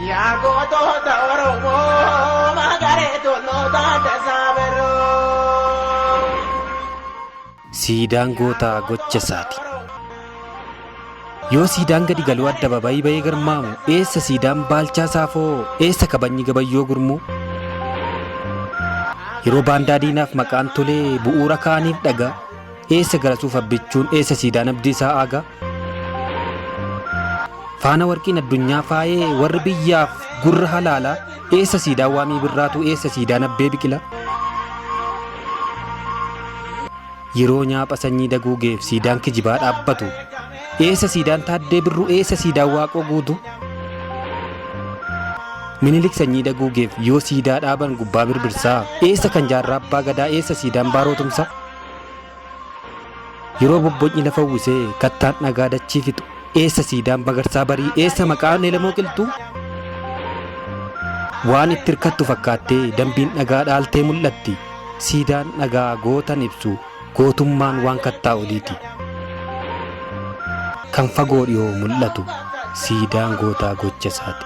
Yaa gootoota Oromoo magaree tolootaa tasaa birroo. Siidaan gootaa gocha isaati. Yoo siidaan gadi galuu addababayii ba'ee garmaamu eessa siidaan baalchaa saafoo eessa kabajni gabayyoo gurmuu? Yeroo baandaa diinaaf maqaan tolee bu'uura kaaniif dhagaa eessa garasuuf abbichuun eessa siidaan abdii isaa aagaa? Faana warqiin addunyaa faayee warri biyyaaf gurra halaalaa eessa siidaa waamii birraatuu eessa siidaa nabbee biqilaa. Yeroo nyaapha sanyii daguugeef siidaan kijibaa dhaabbatu eessa siidaan taaddee birruu eessa siidaan waaqoo guutuu. Minilik sanyii daguugeef yoo siidaa dhaaban gubbaa birbirsaa eessa kan jaarraa abbaa gadaa eessa siidaan baaroo tumsaa. Yeroo bobbocni lafa uwwisee kattaan dhagaa dachii fixu eessa siidaan bagarsaa barii eessa maqaan elemoo qilxuu? Waan itti hirkattu fakkaattee dambiin dhagaa dhaaltee mul'atti siidaan dhagaa gootan ibsu gootummaan waan kattaa oliiti. Kan fagoo dhiyoo mul'atu siidaan gootaa gocha isaati.